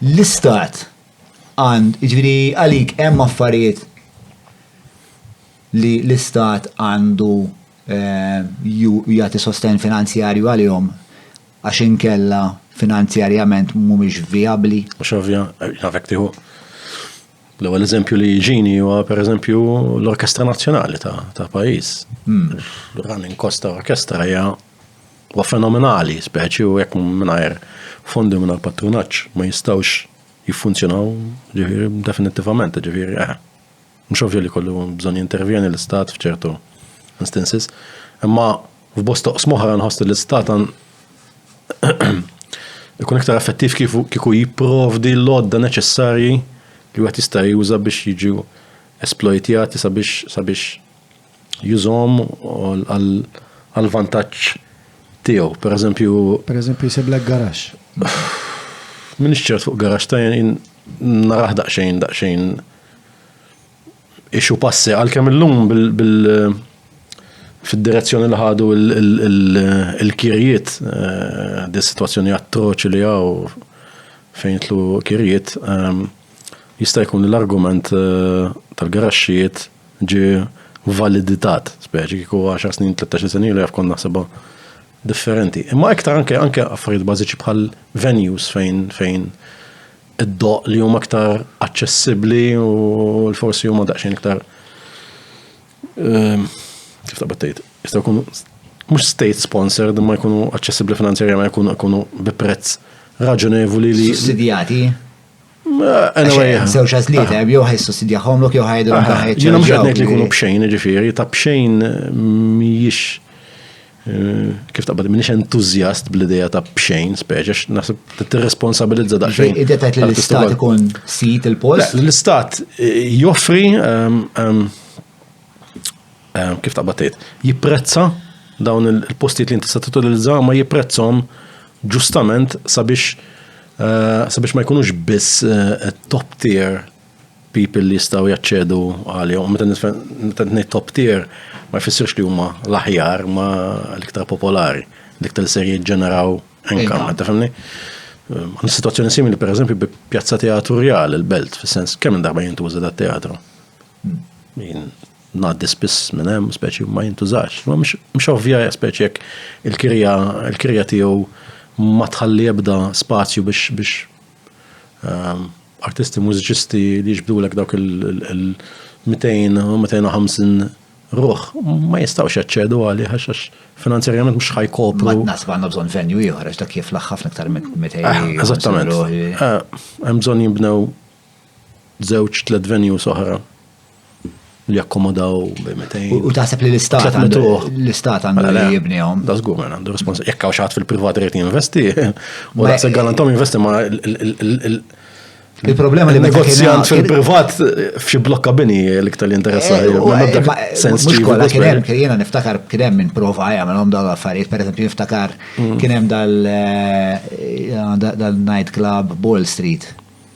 L-Istat għand, jiġifieri għalik hemm affarijiet li l-Istat għandu jagħti sostenn finanzjarju għalihom għax inkella finanzjarjament mhumiex vijabbli? Mhux ovvja, naf jekk tieħu. L-ewwel eżempju li jiġini huwa pereżempju l-Orkestra Nazzjonali ta' pajjiż. Running cost ta' orkestra hija Huwa fenomenali, speċi u jekk mingħajr fondi mingħajr patrunaġġ ma jistgħux jiffunzjonaw ġifieri definittivament, ġifieri eh. Mhux ovvju li kollu bżonn jintervjeni l-istat f'ċertu instances, imma f'bost toqs moħra nħoss l-istat ikun iktar effettiv kif kieku jipprovdi l-odda neċessarji li wieħed jista' juża biex jiġu esplojtjati sabiex sabiex jużhom għall-vantaġġ tiegħu. Per eżempju. Per eżempju jsiblek garax. Minix ċert fuq garax ta' jien naraħ daqsxejn daqsxejn ixu passi għalkemm illum bil fid-direzzjoni li ħadu il-kirjiet eh, di situazzjoni attroċi li għaw fejn tlu kirjiet ehm, Jista' jkun li l-argument tal-garaxxijiet ġie validitat, speċi kieku 10 snin, 13 sena ilu jaf kont naħsibha differenti. Imma iktar anke anke affarijiet bażiċi bħal venues fejn fejn id-doq li huma aktar aċċessibbli u l-forsi huma daqsxejn iktar ehm, kif taqbad tgħid, jistgħu jkunu mhux state sponsored imma jkunu aċċessibbli finanzjarjament jkunu jkunu bi prezz raġonevoli li. Sussidjati? Żewġ għażliet hemm jew ħaj sussidjahom lok jew ħajdu l ħajġ. Jiena mhux qed ngħid li jkunu b'xejn, ġifieri ta' b'xejn mhijiex eh, kif taqbad minix entużjast bl-idea ta' b'xejn speċi għax naħseb tirresponsabilizza daqsxejn. Idea tajt li l-istat ikun sit il-post? L-istat eh, joffri ehm, ehm, eh, kif taqbad tgħid, jipprezza dawn il-postijiet li inti se titolizza ma jipprezzhom ġustament sabiex eh, sabiex ma jkunux biss eh, top tier people li jistgħu jaċċedu għalihom. Meta ngħid top tier ma jfissirx li huma l-aħjar ma l-iktar popolari, l-iktar ser jiġġeneraw income, tafhimni? Għan situazzjoni simili, per eżempju, bi pjazza teatrjal il-belt, fis-sens kemm darba jintuża da teatru. ngħaddi spiss minn hemm, speċi ma jintużax. Ma mhux ovvja speċi jekk il-kirja il-kirja tiegħu ma tħalli ebda spazju biex biex ehm, artisti mużiċisti li jiġbdulek dawk il-200 u 250 ruħ ma jistgħux jaċċedu għalih għax finanzjarjament mhux ħajkopru. Ma nasib għandna bżonn venju ieħor għax dak jiflaħ ħafna iktar minn 200. Ah, eżattament. Eh, hemm bżonn jinbnew Żewġ tliet venues oħra li jakkomodaw bi 200. U taħseb li l-istat għandu l-istat għandu mela, li jibnihom. Da żgur minn għandu respons. Jekk hawn xaħat fil-privat irid jinvesti, u daqshekk galantom jinvesti ma Il-problema li negozjant fil-privat f'xi blokka bini l-iktar li interessa. Eh, eh, mhux kollha kien hemm jiena niftakar kien hemm minn prova jagħmelhom dawn l-affarijiet, pereżempju niftakar mm. kien hemm dal-night eh, club Ball Street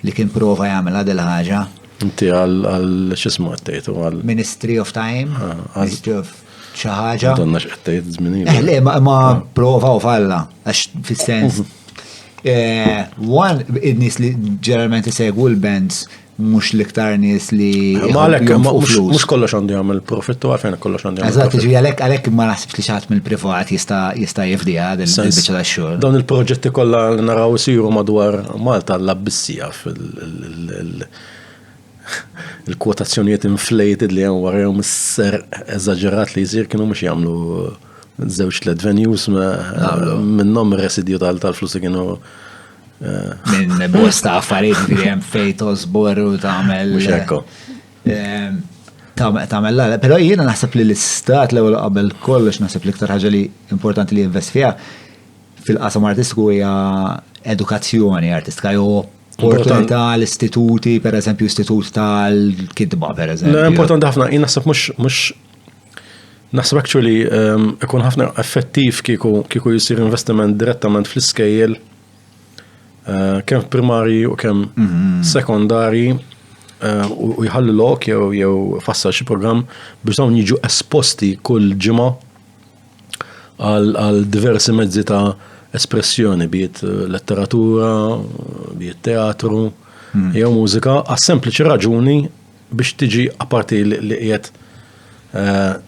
li kien prova jagħmilha dil ħaġa. Inti għal x'ismu qed tgħidu għal. Ministry of Time, ah, Ministry of xi ħaġa. Donna x'qed tgħid żmien. Eh, le ma ah. prova u falla għax fis-sens. Mhm. Eh, one, id-nies li ġeneralment isegwu l-bands mux liktar nis li. Malek, mux kollox għandu jgħamil profittu għafen kollox għandu jgħamil. Eżat, ġi għalek għalek ma Li xi ħadd mill-privat jista' jista' jifdiha din il-biċċa tax-xogħol. Dawn il-proġetti kollha li naraw isiru madwar Malta l-abbissija fil- il-kwotazzjonijiet inflated li hemm wara jom is-ser eżaġerat li jsir kienu mhux jagħmlu żewġ tliet venues minnhom residju tal-flus li kienu minn bosta affarijiet li hemm fejn tożbor u tagħmel. Mhux hekk. Ehm, tagħmel l però jiena naħseb li l-istat l-ewwel qabel kollox naħseb l-iktar ħaġa li importanti li jinvest fiha fil-qasam artistiku hija edukazzjoni artistika jew opportunità l-istituti, per eżempju, istitut tal-kidba, per eżempju. Importanti ħafna, jien naħseb mhux Naħseb actually ehm, ikun ħafna effettiv kieku jisir investiment direttament fl-iskejjel eh, kemm primari u kemm mhm. sekondari eh, u jħallu lok jew jew fassal xi programm biex dawn jiġu esposti kull ġimgħa għal diversi mezzi ta' espressjoni, biet eh, letteratura, biet teatru, mhm. jew mużika, għas sempliċi raġuni biex tiġi apparti li qiegħed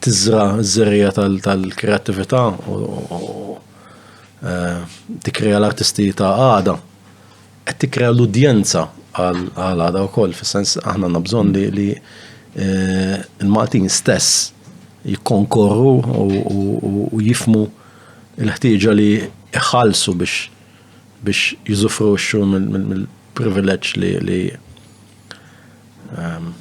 tiżra ż-żerrija tal-kreattività u eh, tikkrea l-artisti ta' għada, qed tikkrea l-udjenza għal għada wkoll, fis-sens aħna għandna bżonn li, li eh, il-Maltin stess jikkonkorru u jifmu l-ħtieġa li jħallsu biex biex jizufruxxu mill-privileġġ li ehm,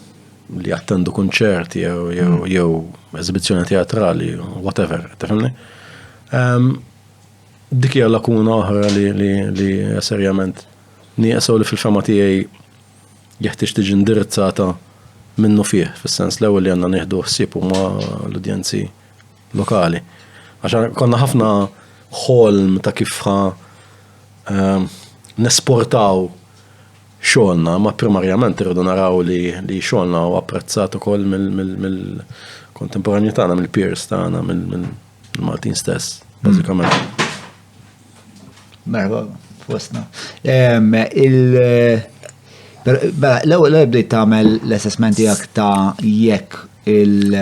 li jattendu kunċert jew jew mm. jew eżibizzjoni teatrali, whatever, tifhimni? Ehm, dik hija lakuna oħra li li li serjament nieqsaw li fil-fema tiegħi jeħtieġ tiġi indirizzata minnu fih, fis-sens l-ewwel li għandna nieħdu ħsieb huma l-udjenzi lokali. Għax konna ħafna ħolm ta' kif ehm, nesportaw xogħolna, imma primarjament irridu naraw li li xogħolna huwa apprezzat ukoll mill-kontemporanji tagħna, mill-peers tagħna, mill-Maltin stess, mm. bażikament. Merħba, fostna. Mela, l-ewwel bdejt tagħmel l-assessment tiegħek ta' jekk il-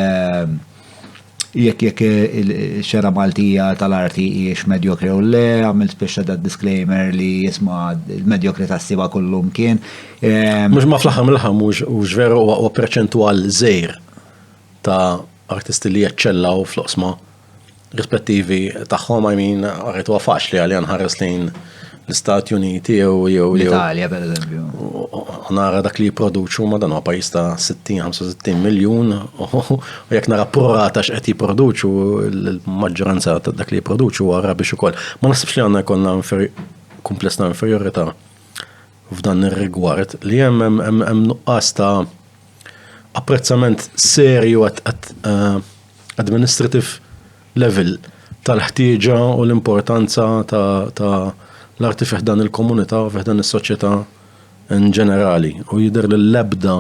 Jekk jekk ix-xena Maltija tal-arti hijiex medjokri jew le, għamilt spiċċa da disclaimer li isma' l-medjokrita' ssibha kullumkien. Ehm, Mhux ma fl-aħħar mill-aħħar mhux veru huwa perċentwal żgħir ta' artisti li jeċċellaw fl-oqsma rispettivi tagħhom, I mean, rajt huwa faċli għalija nħares lejn l-Istati Uniti jew jew l-Italja per eżempju. Nara dak li jipproduċu ma dan huwa pajjiż ta' 60-65 miljun u jekk nara prorata x'qed jipproduċu l-maġġoranza ta' dak li jipproduċu huwa rabiex ukoll. Ma naħsibx li għandna jkollna kumpless ta' inferjorità f'dan ir-rigward li hemm hemm nuqqas ta' apprezzament serju għat eh, administrative level tal-ħtieġa u l-importanza ta' l-arti fi ħdan il-komunità u fi ħdan is-soċjetà in ġenerali. U jidher li l-ebda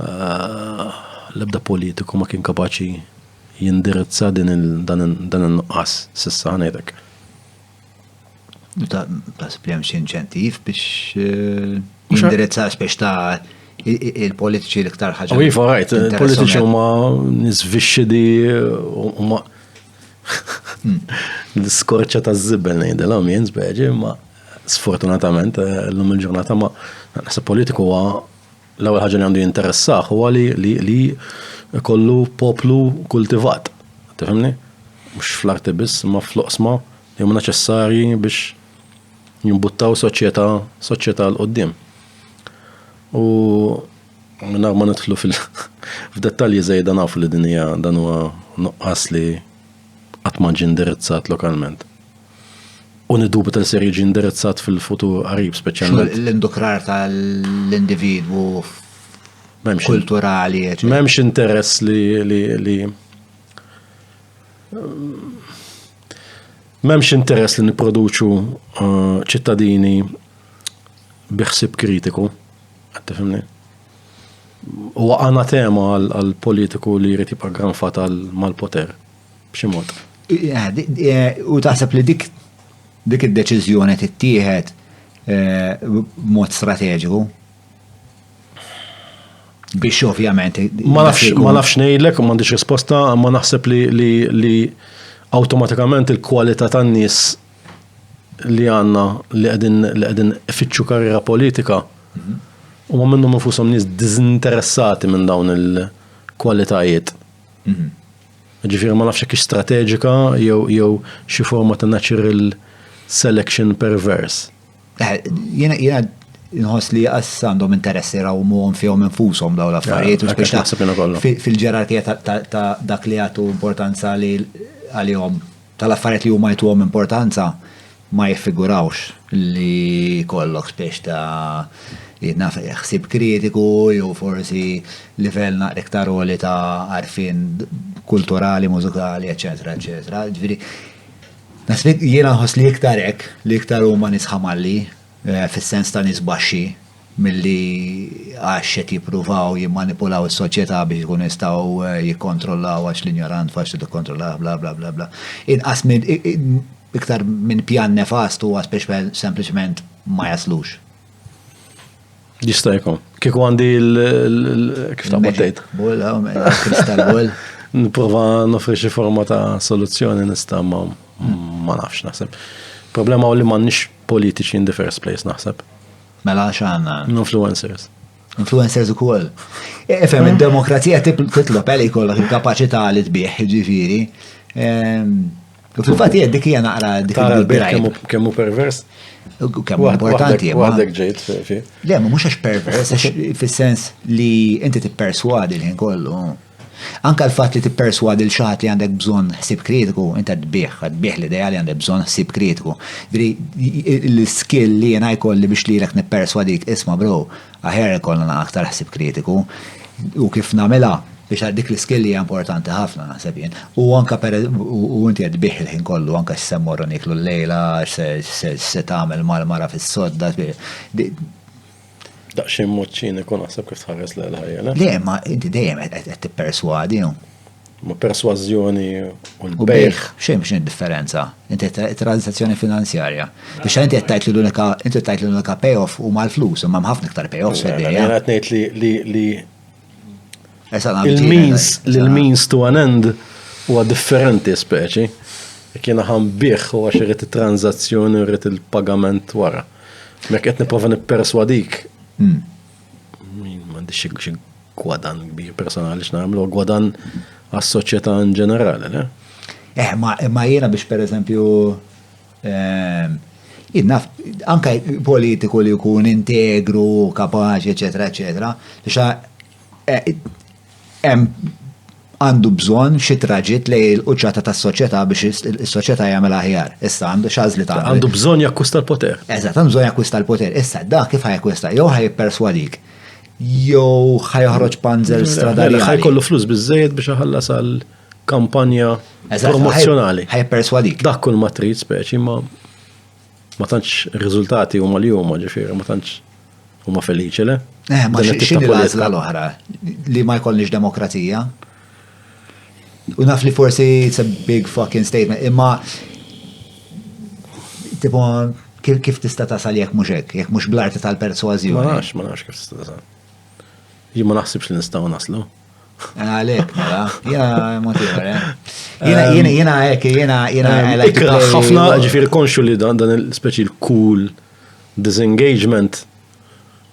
eh, l-ebda politiku ma kien kapaċi jindirizza din dan il-nuqqas sissa ħanejtek. Tasib li hemm xi inċentiv biex eh, jindirizza biex ta' il-politiċi l-iktar ħaġa. Iva, rajt, il-politiċi huma nisvixxidi huma hmm. l-skorċa ta' żibel ngħidilhom jien speċi, ma sfortunatament eh, l-lum il-ġurnata ma naħseb politiku huwa L-ewwel ħaġa li għandu jinteressah huwa li li li kollu poplu kultivat. Tifhimni? Mhux fl-arti biss, imma fl-oqsma li huma neċessarji biex jimbuttaw soċjetà soċjetà l qudiem. U minna ma nidħlu fil f'dettalji żejda nafu li din hija dan huwa nuqqas li qatt ma ġie indirizzat lokalment. U niddubi tal ser jiġi indirizzat fil-futur qarib speċjalment. L-indukrar tal-individwu kulturali. M'hemmx interess li li M'hemmx interess li nipproduċu uh, ċittadini biħsib kritiku. Għattifimni. U għana tema għal-politiku li jrid jibqa' granfat mal-poter. B'xi mod. U taħseb li dik dik id-deċiżjoni tittieħed b'mod strateġiku? Biex ovvjament. Ma nafx ngħidlek, ma għandix risposta, ma naħseb li awtomatikament il-kwalità tan-nies li għandna li qegħdin li qegħdin ifittxu karriera politika mhm. u ma minnhom infushom nies diżinteressati minn dawn il-kwalitajiet. Mhm. Ġifieri ma nafx jekk hix strateġika jew jew xi forma ta' natural selection perverse. Eh, jiena jiena nħoss li għas għandhom interess jrawmuhom fihom infushom dawn l-affarijiet u biex fil-ġerarkija ta' dak li jagħtu importanza li għalihom tal-affarijiet li huma jtuhom importanza ma jifigurawx li jkollok spiex ta' naf ħsieb kritiku jew forsi livell naqra iktar għoli ta' għarfien kulturali, mużikali, eċċetera, eċċetera. Jiena nħoss li iktar hekk, li iktar huma nies ħamalli, fis-sens ta' nies baxxi, milli għax qed jippruvaw jimmanipulaw is-soċjetà biex ikunu jistgħu jikkontrollaw għax l-injorant faċli tikkontrollah bla bla bla bla. Inqas minn iktar minn pjan nefast huwa speċjal sempliċement ma jaslux. Jista' jkun. Kieku għandi kif ta' maddejt. Bull, kristal bull. Nipprova nofri xi forma ta' soluzzjoni nista' ma nafx naħseb. Problema u li m'għandniex politiċi in the first place naħseb. Mela għax għanna. Influencers. Influencers u koll. Efem, eh? il-demokrazija titlob għalli eh, kollok il-kapacità li tbieħ, ġifiri. Ehm, u fil-fat jgħed dik hija naqra dik il-birajb. Kemmu pervers? Kemmu importanti. Għadek ġejt fi. Le, mux għax pervers, fil-sens li inti t-perswadi l-ħin kollu. Anke l-fatt li tipperswadi lil xi ħadd li għandek bżonn ħsieb kritiku, inti qed tbigħ, qed tbigħ l-idea li għandek bżonn ħsieb kritiku. Jiġifieri l-skill li jiena jkolli biex lilek nipperswadik, isma' bro, aħjar ikollna aktar ħsieb kritiku. U kif nagħmilha? Biex għal dik l-skill hija importanti ħafna naħseb jien. U anke per u inti qed tbigħ il-ħin kollu anke x'se mmorru nieklu llejla, x'se tagħmel mal-mara fis-sodda. Daqsxejn mod ċiniku naħseb kif tħares lejn ħajja. Le, ma inti dejjem qed tipperswadi. Ma persważjoni u l-bejħ. Xejn xejn differenza. Inti transazzjoni finanzjarja. Biex inti qed tgħid li l-unika inti tgħid li l-unika payoff huma l-flus, imma ħafna iktar payoffs fid-dinja. Qed ngħid li Il-means, l-means to an end huwa differenti speċi. Kien ħan biħ u għax irrit il-tranzazzjoni u irrit il-pagament wara. Mek qed niprofa nipperswadik. Hmm. M'għandix xi gwadan kbir personali x'nagħmlu, gwadan għas-soċjetà in ġenerali, le? Eh, ma jiena biex per eżempju Ehm, Innaf, anka politiku li jkun integru, kapaċi, eccetera, eccetera, xa eh, għandu bżon xi traġit li l-qċata tas soċjetà biex is-soċjetà jagħmel aħjar. Issa għandu xażli ta' għandu bżonn jakkwista l-poter. Eżatt, għandu bżonn jakkwista l-poter. Issa dak kif ħajkwista jew ħajpersuadik jew ħajħroġ panzer stradali. Ħajkollu flus biżejjed biex ħallas għal kampanja promozzjonali. Ħaj perswadik. Dak kull ma trid speċi ma ma tantx riżultati huma li huma ġifieri ma tantx huma feliċi le. Eh, ma x'inhi l-għażla l-oħra li ma jkollniex demokrazija? U naf li forsi it's a big fucking statement, imma tipo kif tista' tasal jekk mhux hekk, jekk mhux bl-arti tal-persważjoni. Ma nafx, ma nafx kif tista' tasal. Jien ma naħsibx li nistgħu naslu. Għalek, mela, jena motivar, eh? Jena, jena, ehm, jena, ek, jena, jena, għalek. Ehm, ħafna, ġifir konxu li dan dan il-speċi l-cool disengagement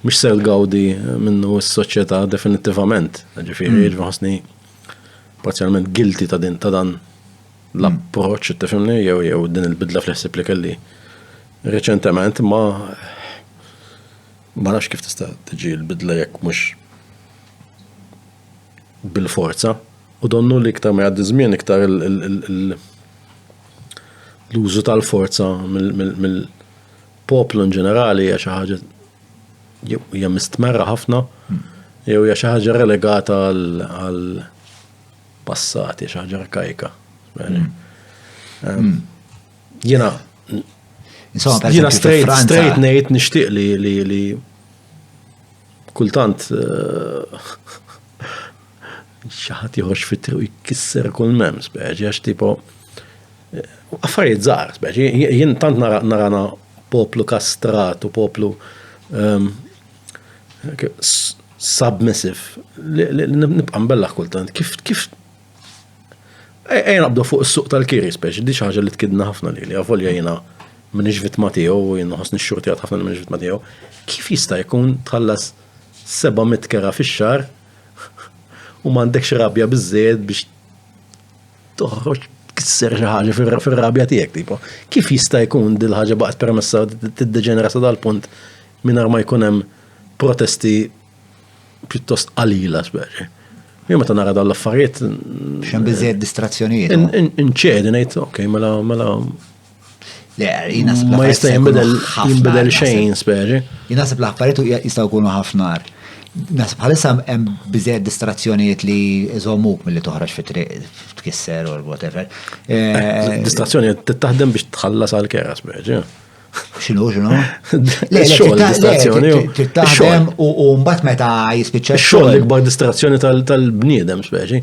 mux ser gawdi minnu s-soċieta definitivament. Ġifir, mm. ġifasni parzialment gilti ta' din ta' dan l-approċ, mm. tifimni, jew jew din il-bidla fl-ħsib li kelli reċentement ma ma nafx kif tista' tiġi l-bidla jekk mhux bil-forza u donnu li iktar ma jgħaddi żmien iktar l-użu tal-forza mill-poplu in ġenerali hija xi ħaġa hija mistmerra ħafna jew hija xi ħaġa relegata għal passat, hija xi ħaġa arkajka. Mm. Mm. Jiena jiena straight straight ngħid nixtieq li Kultant xi ħadd joħroġ fit-triq jkisser kull mem speċi għax tipo affarijiet żgħar speċi jien tant narana poplu kastrat u poplu ehm, submissive li nibqa' mbellaħ kultant kif kif Ejja naqbdu fuq is-suq tal-kiri speċi, di ħaġa li tkidna ħafna li li għavolja jena minix vittma tiegħu u jena ħosni xxurtijat ħafna li minix vittma tiegħu. Kif jista' jkun tħallas 700 kera fix-xar u m'għandekx rabja biżejjed biex toħroġ kisser xi ħaġa fir-rabja tiegħek tipo. Kif jista' jkun dil ħaġa baqgħet permessa tiddeġenera sa dal-punt mingħajr ma jkun hemm protesti pjuttost qalila, speċi. Jien meta nara dawn l-affarijiet. Xem biżejjed distrazzjonijiet. Inċedi ngħid, ok, mela mela. Le, jina Ma jista' jinbidel jinbidel xejn, speċi. Jina sib l-affarijiet jistgħu jkunu ħafnar. Nasib bħalissa hemm biżejjed distrazzjonijiet li jżommuk milli toħroġ fi triq tkisser or whatever. Eh, eh, distrazzjoni taħdem biex tħallas għal kera speċi. Xinu, xinu? Le, xogħol distrazzjoni. Titlaħdem u mbagħad meta jispiċċa. Xogħol l-ikbar distrazzjoni tal-bniedem speċi.